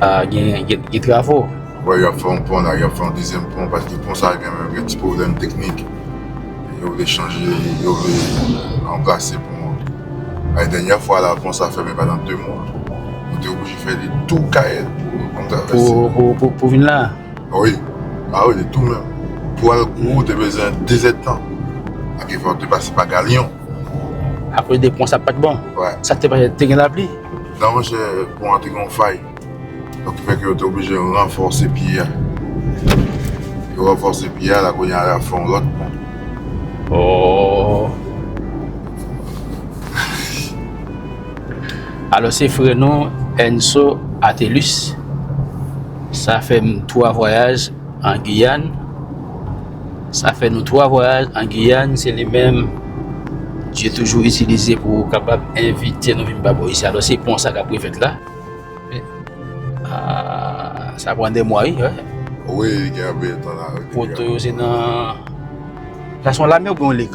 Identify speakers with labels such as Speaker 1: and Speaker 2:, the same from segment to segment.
Speaker 1: A gen gen travo. Wè yap fè yon
Speaker 2: pon la yap fè yon dezyèm pon paske pon sa gen menm gen ti pwoblèm teknik yo vle chanje yo vle ranplase pon an paske dènyè fwa la pon sa fèmen pandan 2 mwa nou te oblije fè li tou kayèl pou
Speaker 1: travèse pou vin la a wi
Speaker 2: a wi li tou menm pou al gwo ou te bezwen 2 zèd tan ak efò ou te pase pa galyon akoz
Speaker 1: de pon sa pat bon sa te
Speaker 2: gen
Speaker 1: lapli. Non monchè
Speaker 2: pon an te gen yon fay Donk ki fè ke yo te oblije ranfòse pye a Yo ranfòse pye a la kounye a yap fè yon lòt pon Oohh
Speaker 1: Alò se frè nou Enso Athelus Sa fè m 3 vwayaj an Guyane sa fè nou 3 vwayaj an Guyane se li menm Dieu toujou itilize pou kapab envite nou vin pa bò isi alò se pon sa kap refèt la sa pran 2 mwa wi
Speaker 2: poto yo se nan
Speaker 1: sa son lame oubyen yon lek?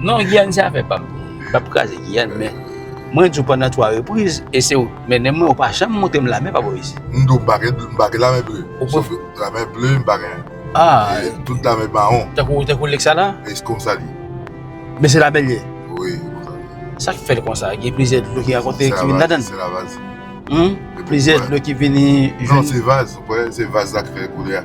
Speaker 1: Non Guyane se afè pam, m pap kraze Guyane men mwen di w pandan 3 repriz e se w k mennen mwen ou pa janm montre m lame pa bò isit. M di w m pa gen m pa
Speaker 2: gen lame ble sof lame ble m pa gen e tout
Speaker 1: lame mawon.
Speaker 2: Tankou lèk sa la?
Speaker 1: E se konsa l ye.
Speaker 2: Men se
Speaker 1: lame l ye? Wi se konsa l ye.
Speaker 2: Sa k fè
Speaker 1: l konsa? Gen plizyè dlo ki rankontre ki vin ladan l? Se lavaz.
Speaker 2: Plizyè dlo ki
Speaker 1: vini jwenn. Non se vaz ou
Speaker 2: kwè se vaz la k fè koulè a.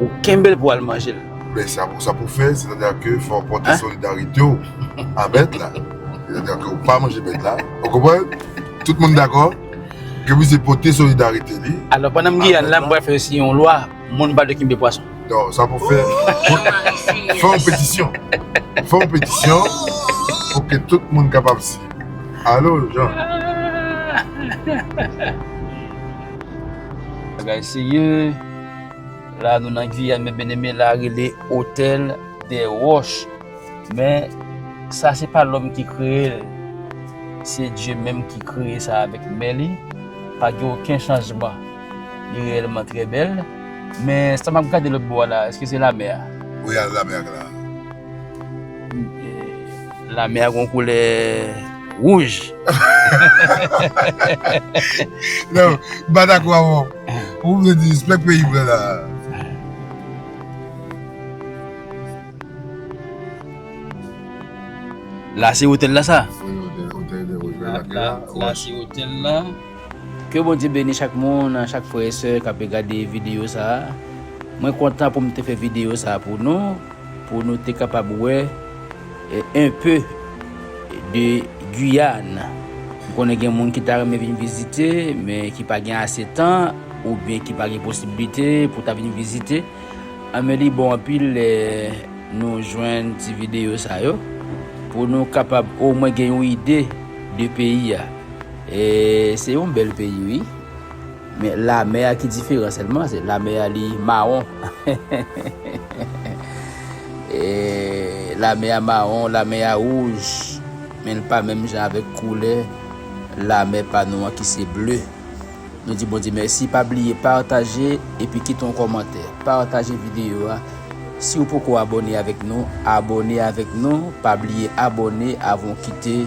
Speaker 1: Ou kenbel pou al manjel. Ben sa pou sa pou
Speaker 2: fè se ta da ke fò pote solidarite w a bèt la se ta da ke ou pa manje bèt la ou konprann tout moun dakò ke misye pote solidarite li alò pandan m Guyane
Speaker 1: la m pral fè siyen yon lwa moun pa dwe kenbe pwason non sa pou fè
Speaker 2: fè yon petisyon fè yon petisyon pou ke tout moun kapab siyen alo Jean.
Speaker 1: Bagay serye. La nou nan Guyane men Beneme la rele Hotel des Roches. Men sa se pa lòm ki kreye l. Se Dye menm ki kreye sa avèk men li. Pa gen oken chanjman. Li reyèlman trè bèl. Men sa m ap gade lòt bò a la, èske se lamè a? Wi, al lamè a gen
Speaker 2: la a.
Speaker 1: La mè a gon koulè wouj.
Speaker 2: Non, m pa dakò avè w. Ou vle di spek peyi m lan la a.
Speaker 1: La se otèl la sa?
Speaker 2: La se
Speaker 1: otèl la. Ke Bondye beni chak moun, chak frè e sè k ape gade videyo sa a. Mwen kontan pou m te fè videyo sa a pou nou, pou nou te kapab wè. Un peu de Guyane M konnen gen moun ki ta renmen vin vizite men ki pa gen ase tan oubyen ki pa gen posiblite pou ta vin vizite anben li bon anpil lè nou jwenn ti videyo sa yo pou nou kapab omwen gen yon ide de peyi a. Se yon bèl peyi wi. Men lamè a ki diferan sèlman se lamè a li mawon lamè a mawon lamè a wouj men li pa menm jan avèk koulè lamè pa nou an ki se ble nou di Bondye mèsi pa bliye pataje epi kite yon kòmantè pataje videyo a si ou poko abòne avèk nou abòne avèk nou pa bliye abòne avan ou kite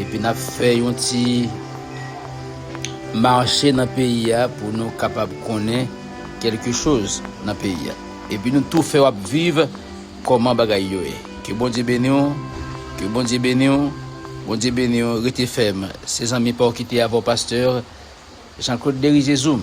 Speaker 1: Epi nap fè yon ti Marche nan peyi a pou nou kapab konnen kelke choz nan peyi a epi nou tou fè wap viv koman bagay yo ye ke bondye beniw ke bondye beniw bondye beniw rete fèm se zanmi paw kite avèw pasteur Jean Claude Derizezoum.